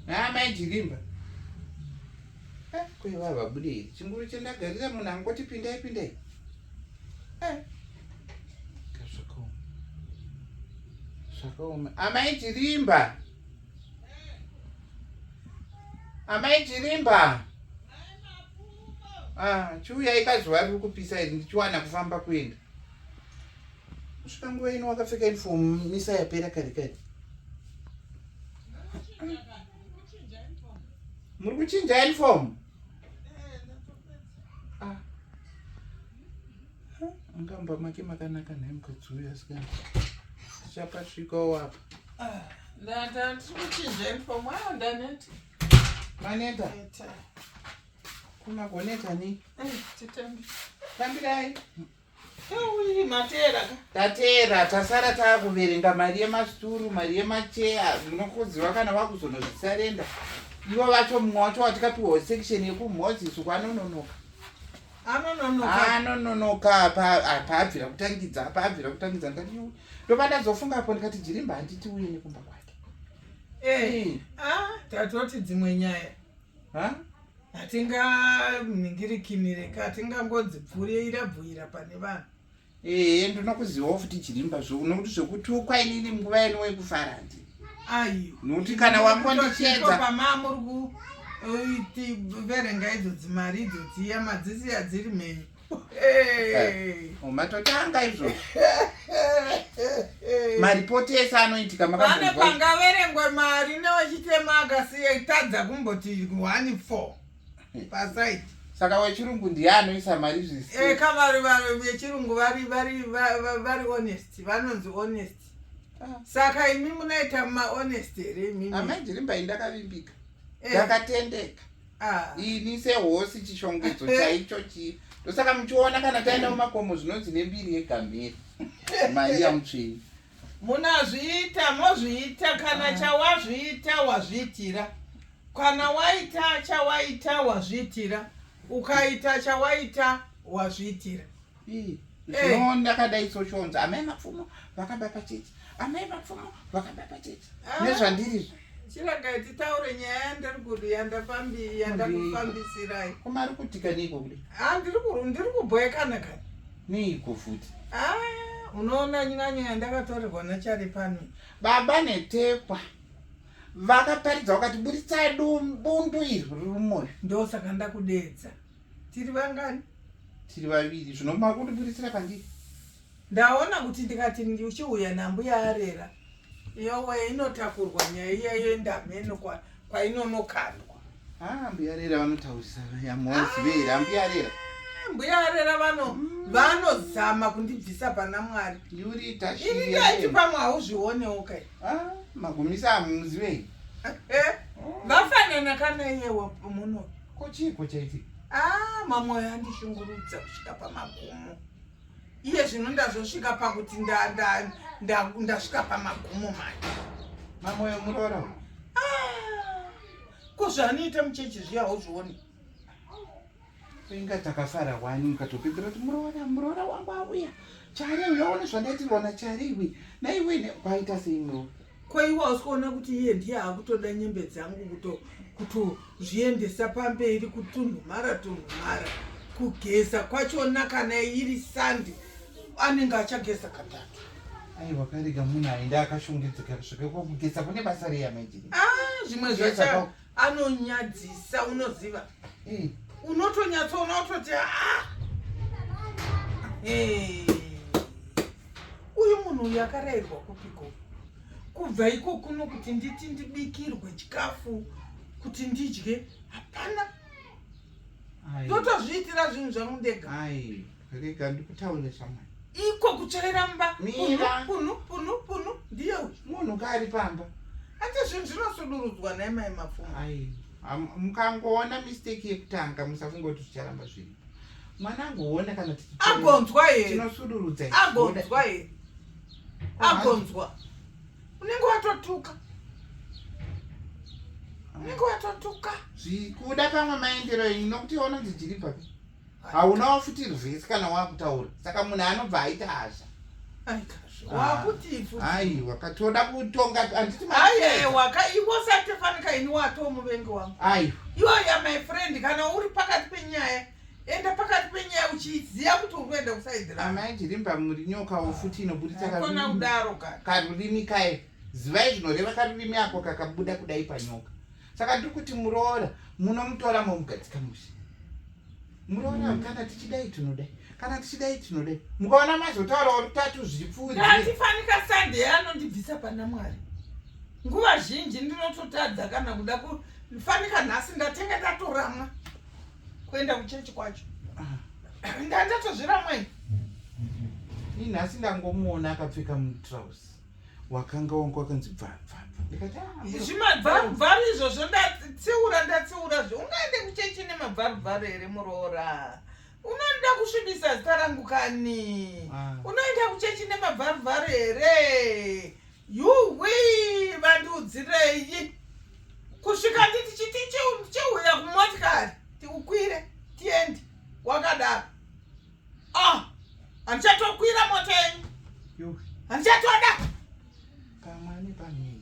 haa mai jilimba eh, kweva vabudei chinguru chandagarira munhu angoti pindai pindai eh. kazvakaoma zvakaoma amai jilimba amai jilimba ah, chiuyai kazuva riri kupisa iri ndichiwana kufamba kuenda kusvika nguva ino wakapfeka uniform misa yapera kare kare muri kuchinja uniform ah. angamba make makanaka nhai mukadzi uyu asikana tichapasvikawo apa ah, ndatikuchinja uniform ayo ndaneta maneta kumagoneta ni eh, titambirai tateera tasara taakuverenga mari yemasituru mari yemacheya munokuziva kana vakuzonozvisarenda ivo vacho mumwe wacho watikapiwa section yekumhozi suku anononoka anononoka paabvira kutangidza paabvira kutangidza ndikati ndopadazofunga apo ndikati jirimba handiti uye nekumba kwake eh, ah, tatoti dzimwe nyaya huh? hatinganingirikimire ka hatingangodzipfurira bvuira pane vanhu ee ndinokuzivawo futi chirimba zvo nokuti zvekutukwa inini nguva yenu wekufara ndi ayo nokuti kana wakondichedza pamamuri kuverenga idzo dzimari idzo dziya madzisi adziri mhenyu Eh, matotanga izvozvo maripoti ese anoitika makane pangaverengwe mari newechitema akasiya itadza kumboti one four pasaiti saka wechirungu ndiye anoisa mari zviseka eh, vari vari vechirungu vari vari vari honest vanonzi honest ah. saka imi munoita mahonest here imimi amai ndirimbai ndakavimbika eh. ndakatendeka Ah. ini sehosi chishongedzo eh. chaicho chii ndosaka muchiona kana taenda mumakomo zvinonzi nembiri yegamhiri maiya mutsvini munazviita mozviita kana ah. chawazviita wazviitira kana waita chawaita wazviitira ukaita chawaita wazviitira zvino ndakadai soshonza amai mapfumo vakaba pachechi amai mapfumo vakaba pachechi ah. nezvandirizvo chiragai titaure nyaya yandiri kudi yandakufambisirai koma ari kutika neiko kudi ah, ndiri kubhoekana kani neiko futi ah, unoona nyanyo yandakatorerwa nachari pano baba netekwa vakaparidza vakati buritsai bundu iri riri mumwoyo ndosaka ndakudeedza tiri vangani tiri vaviri zvino makundibuditsira pandiri ndaona kuti ndikati uchiuya nambuya arera yowe inotakurwa nyaya iya yendameno kwainonokandwa ah, mbuya rera vanotaurisa yamuwazivera ah, mbuya rera mbuya rera vano mm. vanozama kundibvisa pana mwari yuriitaiiti pamwe hauzvionewo kai ah, magumisa amuzivei eh, vafanana kana iyewa muno Ko chiiko chaitika? Ah, mamoyo andishungurudza kusvika pamagumo. Iye zvino ndazosvika pakuti ndasvika pamagumo manje. Mamoyo muroora uyu. Ah, ko zvaanoita muchechi zviya hauzvioni? Inga takafara wani mukatopedzera kuti muroora muroora wangu auya. Chari uyaone zvandaitirwa nachari iwe. Naiwe kwaita sei muroora? Ko iwe hausi kuona kuti iye ndiye akutoda nyembe dzangu kuto kutozviendesa pamberi kutunhumara tunhumara kugeza kwachona kana iri sandi anenge achageza katatu aiwa karega munhu aenda akashongedzeka kusvika kwakugeza kune basa reya maijini ah, zvimwe zvacha anonyadzisa unoziva mm. unotonyatsoona utoti ah! uyu munhu uyu akarayirwa kupiko kubva iko kuno kuti nditi ndibikirwe chikafu kuti ndidye hapana ndotozviitira zvinhu zvangu ndega rega ndikutaure shamwari iko kuchaira mba punu punu punu ndiye munhu kaari pamba ati zvinhu zvinosudurudzwa naye mai mapfuma mukangoona mistake yekutanga musafungoti zvicharamba zviri mwana angoona kana agonzwa here tinosudurudza agonzwa here agonzwa unenge watotuka unenge watotuka zvikuda kamwe maendero inokuti ononzi jiripapi hauna wafuti rwese kana wakutaura saka munhu anobva aita hasha aiwa ah. katoda kutonga andiiaiwa ka iwo satefanika ini wato muvengi wangu aiwa iwaya my friend kana uri pakati penyaya enda pakati penyaya uchiziva kuti uri kuenda kusaidiramai jirimba muri nyokawo futi inoburitsa kudaro karurimi kaye zivai zvinoreva karurimi ako kakabuda kudai panyoka saka tiri kuti muroora munomutora momugadzika mushe muroora mm. kana tichidai tinodai kana tichidai tinodai mukaona mazotaurawo rutatu zvipfuuatifanika sande anondibvisa pana mwari nguva zhinji ndinototadza kana kuda kufanika nhasi ndatenge ndatoramwa kuenda kuchechi kwacho ah. ndandatozviramwei inhasi ndangomuona akapfeka mutrouse wakanga wangu wakanzi bvabvabva ndikati ah, zvimabvabvabva izvozvo ndatsiura ndatsiura zvo ungaende kuchechi nemabvabvabva here muroora unoda kusvibisa zita rangu kani ah. unoenda kuchechi nemabvabvabva here yuwi vandiudzirei kusvika nditi chiti cheuya kumotikari tiukwire tiende wakadaro Ah, handichatokwira mota yenyu. Handichatoda. Kamani pamiri.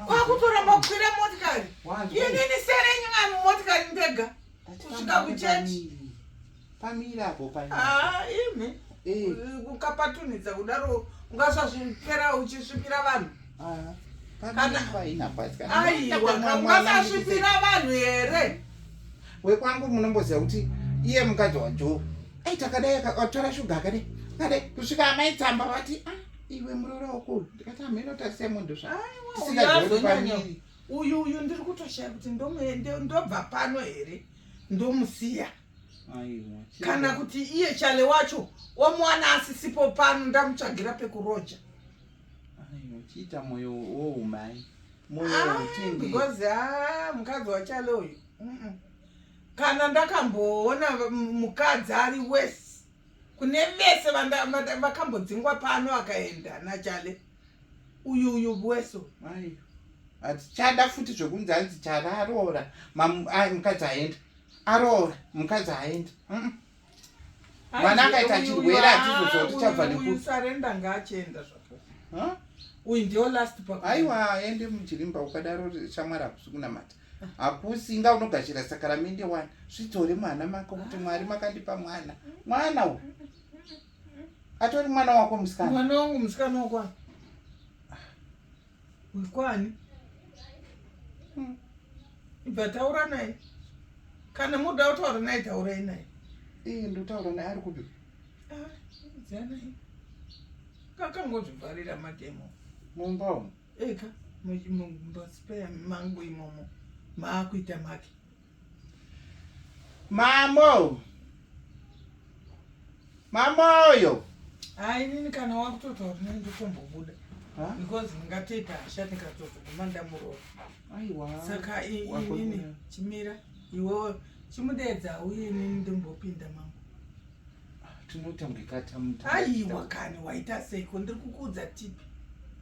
Kwakutoramba kukwira motikari. Inini sere yenyu mwana motikari ndega. Kusvika kuchechi. Pamiri apo pamiri. Ah, imi. Eh. Ukapatunidza kudaro ungasazvipera uchisvipira vanhu. Ah, Aiwakasvipira vanhu here wekwangu munomboziva kuti iye mukadzi wajo ai takadai akatora shuga akadai akadai kusvika amai tsamba vati ah, iwe murora wako ndikati amheno tarisai munhu zvaaisingaoipaniri uyu uyu ndiri kutoshaya kuti ndobva pano here ndomusiya kana kuti iye chale wacho wamuwana asisipo pano ndamutsvagira pekuroja uchiita moyo woumai moyo ah, wotindi because ah mukadzi wachalo uyu kana ndakamboona mukadzi ari wese kune vese vakambodzingwa pano akaenda nachale uyu uyu bweso hatichada futi zvekunzi anzi chale aroora mukadzi aenda aroora mukadzi aenda mwana akaita chirwere atizoziva kuti chabva nekusarenda ngaachienda zvako uyu ndio last pa aiwa ende mujirimba ukadaro shamwari hakusi kunamata hakusi inga unogashira sakaramende wani zvidzore mwana mako kuti mwari makandipa mwana mwana u atori mwana wako musikana mwana wangu musikana wakwa Uri kwani? Hmm. Ibva taura naye. Kana muda kutaura naye taurai naye. Iye ndotaura naye ari kupi? Ah, dzanai. Kakangozvivharira mademo. Mumba umu. Eka mumba spare mangu imomo. Maakuita make. Mamo. Mamoyo. Hayi nini kana wakutotaura nini ndikumbobuda. Because ndingatoita hasha ndikatozoguma ndamuroora. Aiwa. Saka inini chimira iwewe chimudeedza uye nini ndimbopinda mama. Tinoita mukikata mutatu. Aiwa kani waita seiko ndiri kukuudza tipi.